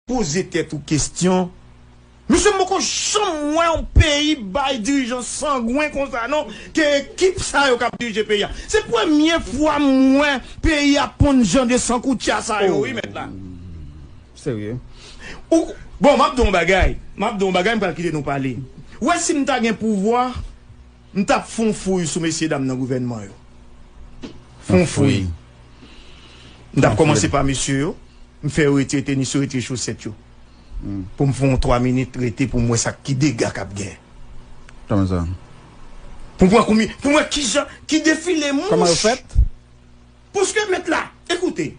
Poze tèt ou kestyon. Mesye m poko janm wè yon peyi bay dirijan sangwen konsa non ke ekip sa yo kap dirije peyi a. Se premye fwa m wè peyi a ponn jan de san koutya sa yo wi mèt la. Ooh serye? Ou bon map di w yon bagay, map di w yon bagay m pral kite nou pale. Wè si m ta gen pouvwa. M tap fon fouy sou mesye dam nan gouvènman yo fon fouy m tap kòmanse pa mesye yo m fè yo retire tenis yo retire chosèt yo pou m fon yon 3 minit rete pou m wè sa ki dega kap gen pou m wè konbyen pou m wè kijan ki defile mouch. Pouske met la, ekoute,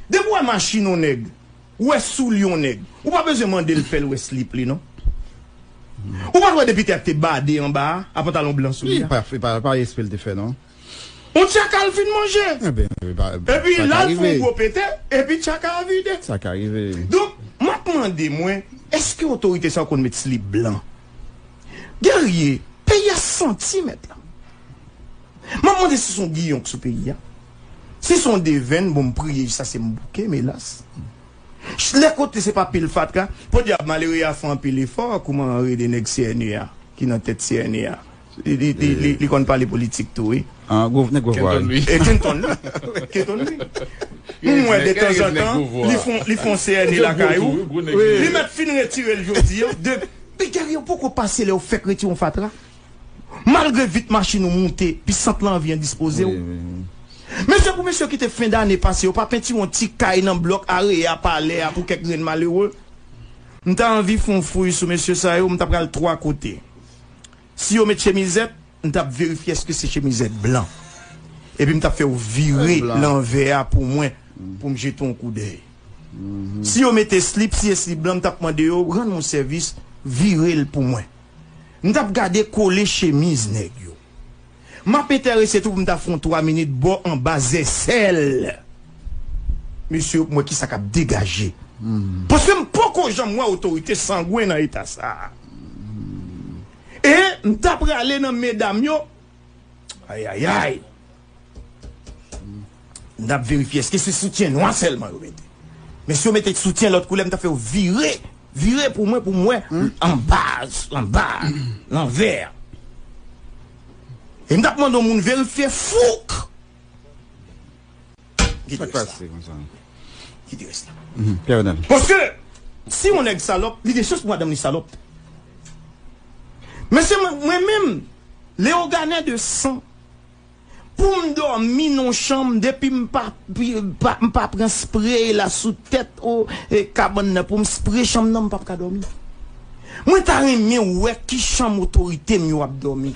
depi w wè machin yon nèg, ou wè soulye yon nèg, ou pa bezwen mande l fè l wè slip li non. Ou pa t wè depi tè a te bade anba a, a pantalon blan sou li a? Li pa, pa espre l te fè non. Yon tyaka l fin manje. Enben, sa ka rive. Epi la l fè yon gwo pete, epi tyaka a vide. Sa ka rive. Donk, m ap mande mwen, èske otorite sa yo konn met slip blan? Guerrier, peyi a santi met la. M ap mande si s on giyon k sou peyi a, si s on devenn, bon m priye jis ase m bouke, m elas. Ch lè kote se pa pil fatra, podyab malere a fè anpil efò, kouman rele nèg CNE a, ki nan tèt CNE a, li li konn pale politik tou wi. An gwo nèg gwo vwa wi. E Kenton la, Kenton wi. M wè detanzantan li fon li fon CNE lakay ou, li mèt fin retire l jodi an, de. Piga yo poko pase lè yo fèk retire yon fatra. Malgre vit machin ou moute, pi sant lan anvi endispoze w. Men se pou mesye yo ki te fen dane pase yo pa pentire yon ti kay nan blòk Areya, Palè a pou kèk grenn malere. M ta anvi fè yon fouy sou mesye sa yo, m ta pral twa kote. Si yo met chemizèt, m t ap verifye èske se chemizèt blan. Epi m t ap fè yo vire lanvè a pou mwen pou m jete yon koudèy. Si yo mete slip, si se slip blan, m t ap mande yo, rann m yon sèvis, vire l pou mwen. M tap gade kole chemiz nèg yo. Map entèrese tou pou m ta fon 3 minit bò anba zèsèl mesye yo pou m wè kisa kap degaje. Paske m poko janm wè otorite sangwen nan eta sa. E m ta prale nan medam yo ayayay. N ap verifye eske se soutyen nwa sèlman yo mete. Men si yo mete soutyen lòt koulè m ta fè yo vire, vire pou mwen pou m wè anba, anba, lanvè. E m t ap mande yon moun verifye fouk. Ki te rès la? Ki te rès la? Pierre Renel. Paske si yon nèg salòp, li gen chans pou madanm li salòp. Mesye mwen menm Leogane de san. Poum domi non chanm depi m pa pran spray la sou tèt kabann nan poum spray chanm nan m pap ka domi mwen ta renmen wè ki chanm otorite m yo ap domi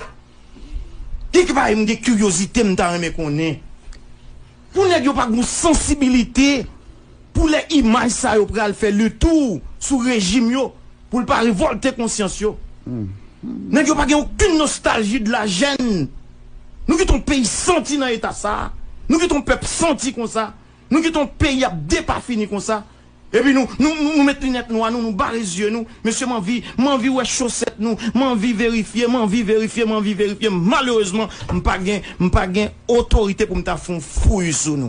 kek bagay m gen kiryozite m ta renmen konnen. Pou nèg yo pa gon sansibilite pou lè imaj sa yo pral fè le tour sou rejim yo poul pa revolte konsyans yo. Nèg yo pa gen okenn nostalji de la jèn. Nou kite yon peyi santi nan eta sa, nou kite yon pèp santi konsa, nou kite yon peyi ap depafini konsa. Epi nou nou met linèt nwa nou nou bare zye nou mesye manvi manvi wè chosèt nou manvi verifye manvi verifye manvi verifye malerezman mpa gen mpa gen otorite poum ta fon fouy sou.